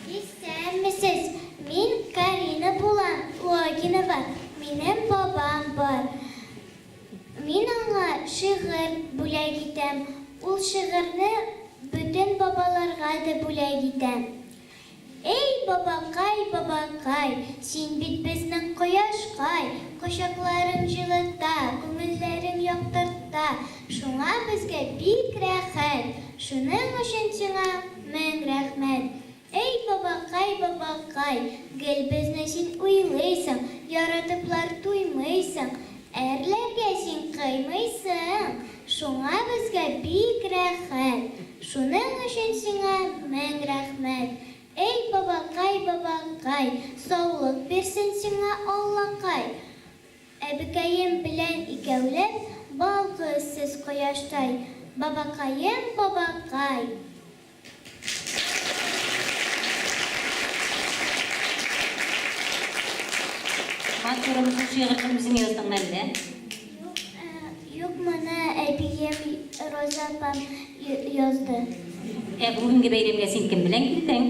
Исәнмесез, мин Карина булам Логинова, минем бабам бар. Мин аңа шигырь бүләк итәм, ул шигырьне бөтен бабаларга да бүләк итә. Эй, бабакай, бабакай, син бит безнең кояшкай, Кочакларың җылыта, күңелләрең яктырта, Шуңа безгә бик рәхәт, шуның өчен сиңа. Мең рәхмәт! Әй бабакай, бабакай, гел безне син уйлыйсың, яратыплар туймыйсың, әрләргә син кыймыйсың, шуңа безгә бик рәхәт, шуның өчен сиңа мең рәхмәт, әй бабакай, бабакай, саулык бирсен сиңа Аллакай! Әбекәем белән икәүләп балкы сез кояштай, бабакаем, бабакай! Матурым, шул шигырьне үзең яздыңмы әллә? Юк, юк, моны әбием Роза апам язды. Ә бүгенге бәйрәмгә син кем белән килдең?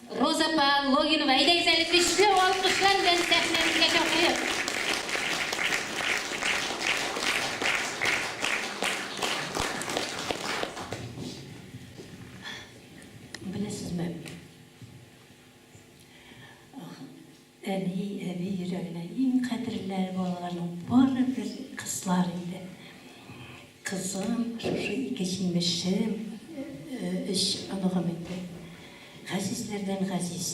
Роза апа Логинова, әйдәгез әле көчле алкышлар белән сәхнәбезгә чакырыйк. Беләсезме? Әби, әби йөрәгенә иң кадерләре балаларның барыбер кызлар иде. Кызым, шушы ике җимешем, өч оныгым инде. Газизләрдән газиз.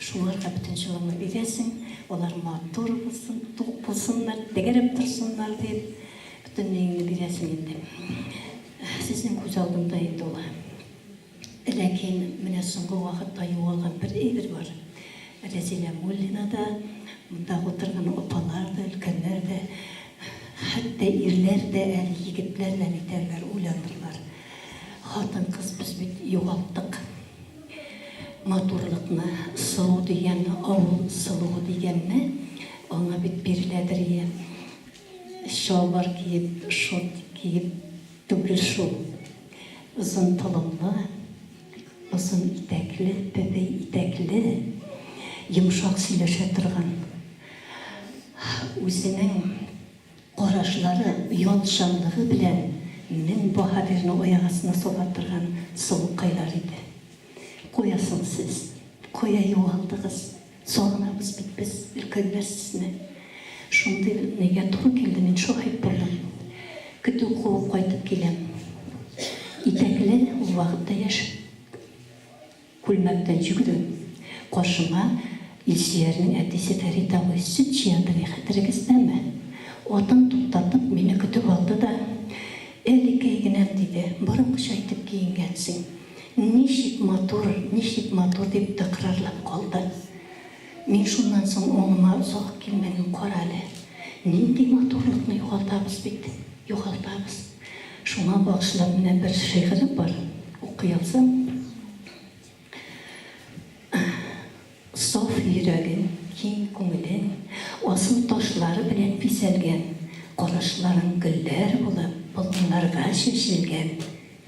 Шуларга бөтен җылыңны бирәсең, алар матур булсын, тук булсыннар, тәгәрәп торсыннар дип, бөтенлегеңне бирәсең инде. Сезнең күз алдында инде ул. Ләкин менә соңгы вакытта югалган бер әйбер бар. Рәзилә Муллина да, мондагы утырган апалар да, өлкәннәр дә, хәтта ирләр дә әле, егетләр дә нитәрләр, уйланырлар. Хатын-кыз без бит югалттык. Матурлыкны, сылу дигән, авыл сылуы дигәнне, аңа бит биреләдер, йә чалбар киеп, шорт киеп, Түгел шул. Озын толымлы, озын итәкле, бәбәй итәкле, йомшак сөйләшә торган, үзенең карашлары, ятьҗанлыгы белән мең баһадирны аяк астына сала торган сылукайлар иде. Кая соң сез? Кая югалдыгыз? Сагынабыз бит без өлкәннәр сезне. Шундый нигә туры килде мин шаһит булдым. Көтү куып кайтып киләм. Итәкле ул вакытта яшь күлмәктән йөгерү. Каршыма Илсөярнең әтисе Фәрит абый сөт җыянды ни хәтерегездәме? Атын туктатып мине көтеп алды да, Әле кәйгенәм, диде, борынкыча итеп киенгәнсең. Ничек матур, ничек матур, дип тәкрарлап калды. Мин шуннан соң аңыма озак килмәдем, карале, нинди матурлыкны югалтабыз бит, югалтабыз. Шуңа багышлап менә бер шигырем бар, укый алсам. Саф йөрәген, киң күңелен асыл ташлар белән бизәлгән, карашларын гөлләр булып болыннарга чәчелгән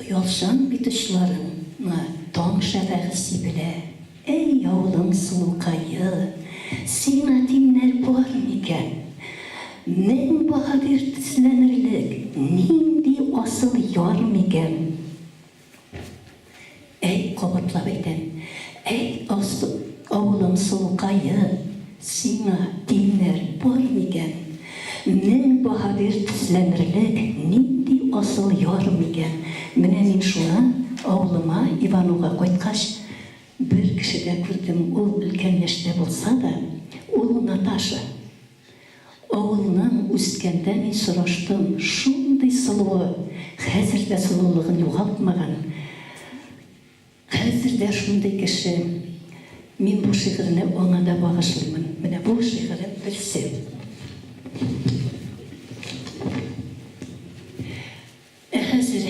Оялчан бит очларыңа таң шәфәге сибелә. Әй, авылың сылукае, сиңа тиңнәр бар микән? Мең баһадир тезләнерлек нинди асыл яр микән? Әй, кабатлап әйтәм, әй, Алсу, авылым сылукае, сиңа тиңнәр бар микән? Мең баһадир тезләнерлек нинди асыл яр микән? Менә мин шуны, авылыма, Ивануга кайткач, бер кешедә күрдем, ул өлкән яшьтә булса да, ул Наташа. Авылның үскәндә мин сораштым, шундый сылуы, хәзер дә сылулыгын югалтмаган, хәзер дә шундый кеше. Мин бу шигырьне аңа да багышлыймын. Менә бу шигырем берсе. Ә хәзер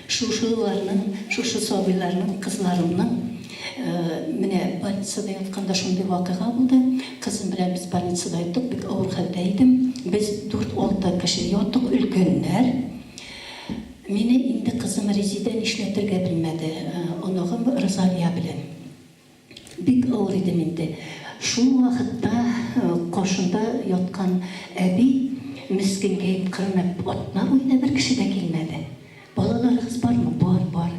шушы ларның, шушы сабыйларның, кызларымның менә больницада ятканда шундый вакыйга булды. Кызым белән без больницада яттык, бик авыр хәлдә идем. Без дүрт-алты кеше яттык, өлкәннәр. Мине инде кызым Резидә нишләтергә белмәде, оныгым Розалия белән. Бик авыр иде миндә. Шул вакытта каршында яткан әби мескенкәеп кырынып, Атна буена бер кеше дә килмәде. Балаларыгыз бармы? Бар, бар.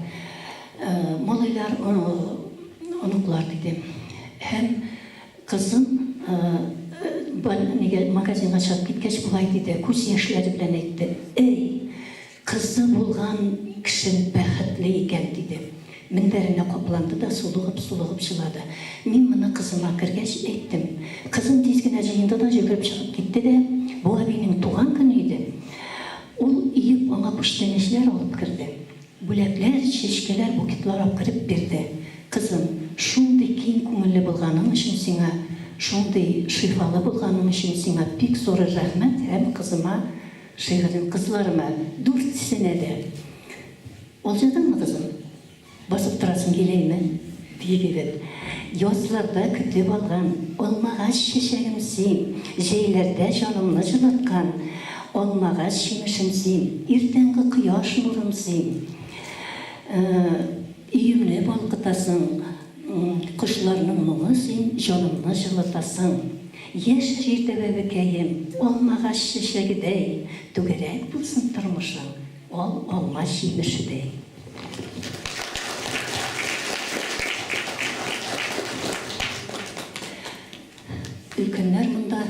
Малайлар, оныклар, диде. Һәм кызым магазинга чыгып киткәч, болай диде, күз яшьләре белән әйтте, Әй! Кызы булган кеше бәхетле икән, диде. Мендәренә капланды да сулыгып-сулыгып җылады. Мин моны кызыма кергәч әйттем. Кызым тиз генә җыенды да йөгереп чыгып китте дә, бу әбинең туган көне иде, ул иеп аңа күчтәнәчләр алып керде. Бүләкләр, чәчкәләр, букетлар акырып бирде. Кызым, шундый киң күңелле булганың өчен сиңа, шундый шифалы булганың өчен сиңа бик зурыр рәхмәт һәм кызыма, Шигырем кызларыма, дүртсенә дә. Ул җырдыңмы, кызым? Басып торасың киләйме? диеп егет. Язларда көтеп алган алмагач чәчәгем син, җәйләрдә җанымны җылыткан алмагач җимешем син, иртәнге кояш нурым син. Өемне балкытасың. Кошларның моңы син җанымны җылытасың Яшь җирдә бәбекәем, алмагач чәчәгедәй Түгәрәк булсын тормышың, ал алма җимешедәй. Өлкәннәр монда.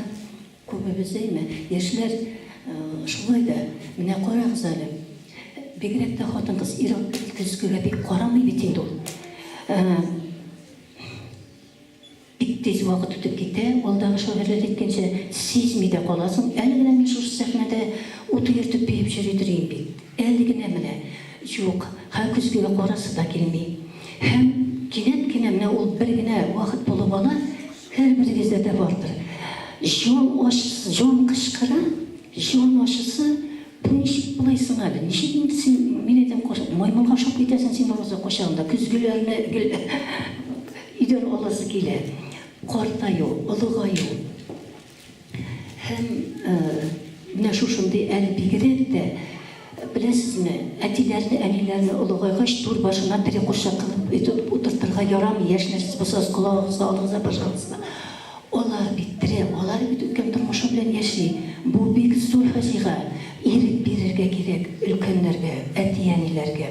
Күбебез әйме, яшьләр шулай да. Менә карагыз әле, бигрәк тә хатын-кыз ир-ат төскегә бик карамый бит инде ул. Бик тиз вакыт үтеп китә, алдагы шагыйрьләр әйткәнчә, сизми дә каласың. Әле генә мин шушы сәхнәдә ут өертеп биеп йөри торыйм бит. Әле генә менә. Юк, һәр көзгегә карасы да килми. Һәм кинәт кенә менә ул бер генә вакыт булып ала, Һәрберегездә дә бардыр. Җан ачысы, җан кычкыра, җан ачысы, бу ничек болай соң әле? Ничек инде син мине дә маймылга ошап китәсең син бервакытта кайчагында да көзгеләрне гел өйдән аласы килә. Картаю, олыгаю. Һәм менә шушындый әле бигрәк тә, беләсезме, әтиләрне, әниләрне олыгайгач, түр башына тере курчак кылып өтеп утыртырга ярамый, яшь нәрсәсе булсагыз, колагыгызга алыгыз да башлагыз да. Алар бит тере, алар бит үткән тормышы белән яши. Бу бик зур фаҗига. Ирек бирергә кирәк өлкәннәргә, әти-әниләргә.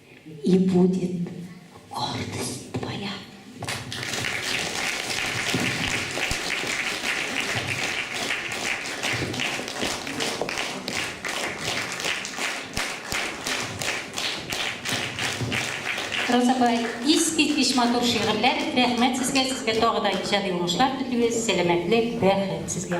И будет гордость твоя. Розабай, искит биш матур шигырьләр. Рәхмәт сезгә, сезгә тагы да иҗади уңышлар телибез, сәламәтлек, бәхет сезгә.